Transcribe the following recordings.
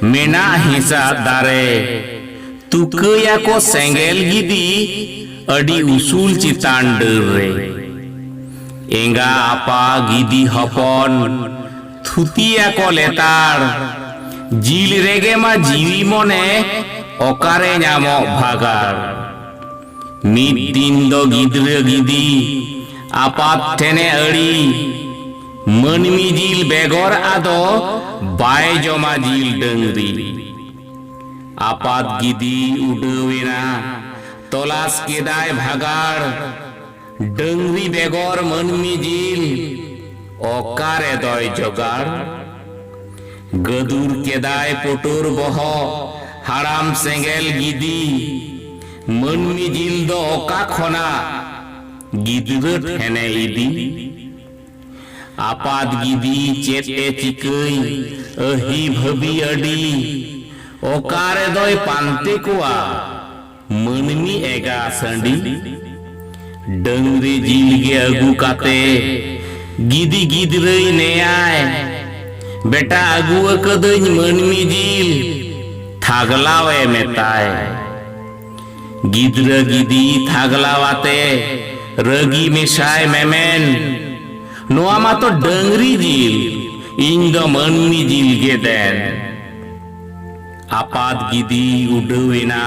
ᱢᱮᱱᱟᱜ ᱦᱤᱸᱥᱟ ᱫᱟᱨᱮ ᱛᱩᱠᱟᱹᱭᱟᱠᱚ ᱥᱮᱸᱜᱮᱞ ᱜᱤᱫᱤ ᱟᱹᱰᱤ ᱩᱥᱩᱞ ᱪᱮᱛᱟᱱ ᱰᱟᱹᱨ ᱨᱮ᱾ ᱮᱸᱜᱟ ᱟᱯᱟ ᱜᱤᱫᱤ ᱦᱚᱯᱚᱱ ᱛᱷᱩᱛᱤᱭᱟᱠᱚ ᱞᱮᱛᱟᱲ᱾ ᱡᱤᱞ ᱨᱮᱜᱮ ᱢᱟ ᱡᱤᱣᱤ ᱢᱚᱱᱮ ᱚᱠᱟᱨᱮ ᱧᱟᱢᱚᱜ ᱵᱷᱟᱜᱟᱲ᱾ ᱢᱤᱫ ᱫᱤᱱ ᱫᱚ ᱜᱤᱫᱽᱨᱟᱹ ᱜᱤᱫᱤ ᱟᱯᱟᱛ ᱴᱷᱮᱱᱮ ᱟᱹᱲᱤ᱾ ᱢᱟᱹᱱᱢᱤ ᱡᱤᱞ ᱵᱮᱜᱚᱨ ᱟᱫᱚ ᱵᱟᱭ ᱡᱚᱢᱟ ᱡᱤᱞ ᱰᱟᱹᱝᱨᱤ ᱟᱯᱟᱛ ᱜᱤᱫᱤ ᱩᱰᱟᱹᱣ ᱮᱱᱟ ᱛᱚᱞᱟᱥ ᱠᱮᱫᱟᱭ ᱵᱷᱟᱜᱟᱲ ᱰᱟᱹᱝᱨᱤ ᱵᱮᱜᱚᱨ ᱢᱟᱹᱱᱢᱤ ᱡᱤᱞ ᱚᱠᱟᱨᱮ ᱫᱚᱭ ᱡᱚᱜᱟᱲ ᱜᱟᱹᱫᱩᱨ ᱠᱮᱫᱟᱭ ᱯᱩᱴᱩᱨ ᱵᱚᱦᱚᱜ ᱦᱟᱲᱟᱢ ᱥᱮᱸᱜᱮᱞ ᱜᱤᱫᱤ ᱢᱟᱹᱱᱢᱤ ᱡᱤᱞ ᱫᱚ ᱚᱠᱟ ᱠᱷᱚᱱᱟᱜ ᱜᱤᱫᱽᱨᱟᱹ ᱴᱷᱮᱱᱮ ᱤᱫᱤ ᱟᱯᱟᱛ ᱜᱤᱫᱤ ᱪᱮᱫ ᱮ ᱪᱤᱠᱟᱹᱭ ᱟᱹᱦᱤ ᱵᱷᱟᱹᱵᱤ ᱟᱹᱰᱤ ᱚᱠᱟ ᱨᱮᱫᱚᱭ ᱯᱟᱱᱛᱮ ᱠᱚᱣᱟ ᱢᱟᱹᱱᱢᱤ ᱮᱜᱟ ᱥᱟᱺᱰᱤ ᱰᱟᱹᱝᱨᱤ ᱡᱤᱞ ᱜᱮ ᱟᱹᱜᱩ ᱠᱟᱛᱮ ᱜᱤᱫᱤ ᱜᱤᱫᱽᱨᱟᱹᱭ ᱱᱮᱭᱟᱭ ᱵᱮᱴᱟ ᱟᱹᱜᱩ ᱟᱠᱟᱹᱫᱟᱹᱧ ᱢᱟᱹᱱᱢᱤ ᱡᱤᱞ ᱛᱷᱟᱜᱽᱞᱟᱣ ᱮ ᱢᱮᱛᱟᱭ᱾ ᱜᱤᱫᱽᱨᱟᱹ ᱜᱤᱫᱤ ᱛᱷᱟᱜᱽᱞᱟᱣ ᱟᱛᱮ ᱨᱟᱹᱜᱤ ᱢᱮᱥᱟᱭ ᱢᱮᱢᱮᱱ ᱱᱚᱣᱟ ᱢᱟᱛᱚ ᱰᱟᱹᱝᱨᱤ ᱡᱤᱞ ᱤᱧ ᱫᱚ ᱢᱟᱹᱱᱢᱤ ᱡᱤᱞ ᱜᱮ ᱫᱮᱱ ᱟᱯᱟᱛ ᱜᱤᱫᱤ ᱩᱰᱟᱹᱣ ᱮᱱᱟ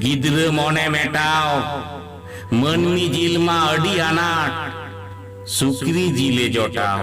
ᱜᱤᱫᱽᱨᱟᱹ ᱢᱚᱱᱮ ᱢᱮᱴᱟᱣ ᱢᱟᱹᱱᱢᱤ ᱡᱤᱞ ᱢᱟ ᱟᱹᱰᱤ ᱟᱱᱟᱴ ᱥᱩᱠᱨᱤ ᱡᱤᱞᱮ ᱡᱚᱴᱟᱣ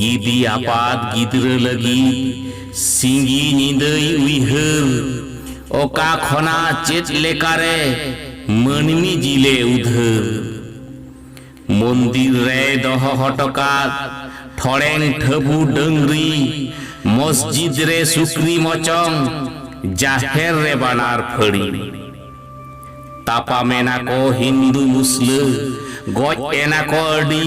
ᱜᱤᱫᱤ ᱟᱯᱟᱛ ᱜᱤᱫᱽᱨᱟᱹ ᱞᱟᱹᱜᱤᱫ ᱥᱤᱸᱜᱤ ᱧᱤᱫᱟᱹᱭ ᱩᱭᱦᱟᱹᱨ ᱚᱠᱟ ᱠᱷᱚᱱᱟᱜ ᱪᱮᱫ ᱞᱮᱠᱟᱨᱮ ᱢᱟᱹᱱᱢᱤ ᱡᱤᱞᱮ ᱩᱫᱷᱟᱹᱨ᱾ ᱢᱚᱱᱫᱤᱨ ᱨᱮᱭ ᱫᱚᱦᱚ ᱦᱚᱴᱚᱠᱟᱫ ᱴᱷᱚᱲᱮᱝ ᱴᱷᱟᱹᱵᱩ ᱰᱟᱹᱝᱨᱤ ᱢᱚᱥᱡᱤᱫᱽ ᱨᱮ ᱥᱩᱠᱨᱤ ᱢᱚᱪᱚᱝ ᱡᱟᱦᱮᱨ ᱨᱮ ᱵᱟᱱᱟᱨ ᱯᱷᱟᱹᱲᱤ᱾ ᱛᱟᱯᱟᱢᱮᱱᱟᱠᱚ ᱦᱤᱱᱫᱩ ᱢᱩᱥᱞᱟᱹ ᱜᱚᱡ ᱮᱱᱟᱠᱚ ᱟᱹᱰᱤ᱾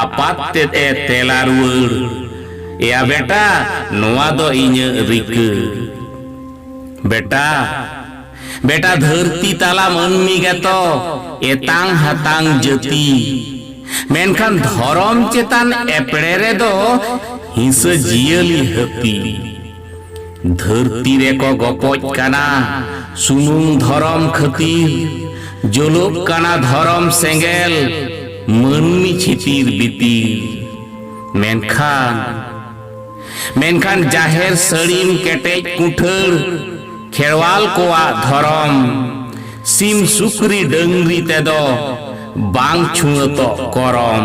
ᱟᱯᱟᱛ ᱛᱮᱫ ᱮ ᱛᱮᱞᱟ ᱨᱩᱣᱟᱹᱲ, ᱮᱭᱟ ᱵᱮᱴᱟ ᱱᱚᱣᱟ ᱫᱚ ᱤᱧᱟᱹᱜ ᱨᱤᱠᱟᱹ᱾ ᱵᱮᱴᱟ, ᱵᱮᱴᱟ ᱫᱷᱟᱹᱨᱛᱤ ᱛᱟᱞᱟ ᱢᱟᱹᱱᱢᱤ ᱜᱮᱛᱚ ᱮᱛᱟᱝ ᱦᱟᱛᱟᱝ ᱡᱟᱹᱛᱤ᱾ ᱢᱮᱱᱠᱷᱟᱱ ᱫᱷᱚᱨᱚᱢ ᱪᱮᱛᱟᱱ ᱮᱯᱲᱮ ᱨᱮᱫᱚ ᱦᱤᱸᱥᱟᱹ ᱡᱤᱭᱟᱹᱞᱤ ᱦᱟᱹᱛᱤ᱾ ᱫᱷᱟᱹᱨᱛᱤ ᱨᱮᱠᱚ ᱜᱚᱯᱚᱡ ᱠᱟᱱᱟ ᱥᱩᱢᱩᱝ ᱫᱷᱚᱨᱚᱢ ᱠᱷᱟᱹᱛᱤᱨ ᱡᱚᱞᱚᱜ ᱠᱟᱱᱟ ᱫᱷᱚᱨᱚᱢ ᱥᱮᱸᱜᱮᱞ ᱢᱟᱹᱱᱢᱤ ᱪᱷᱤᱛᱤᱨ ᱵᱤᱛᱤᱨ ᱢᱮᱱᱠᱷᱟᱱ ᱢᱮᱱᱠᱷᱟᱱ ᱡᱟᱦᱮᱨ ᱥᱟᱹᱲᱤᱢ ᱠᱮᱴᱮᱡ ᱠᱩᱴᱷᱟᱹᱲ ᱠᱷᱮᱲᱣᱟᱞ ᱠᱚᱣᱟᱜ ᱫᱷᱚᱨᱚᱢ ᱥᱤᱢ ᱥᱩᱠᱨᱤ ᱰᱟᱹᱝᱨᱤ ᱛᱮᱫᱚ ᱵᱟᱝ ᱪᱷᱩᱣᱟᱹᱛᱚᱜ ᱠᱚᱨᱚᱢ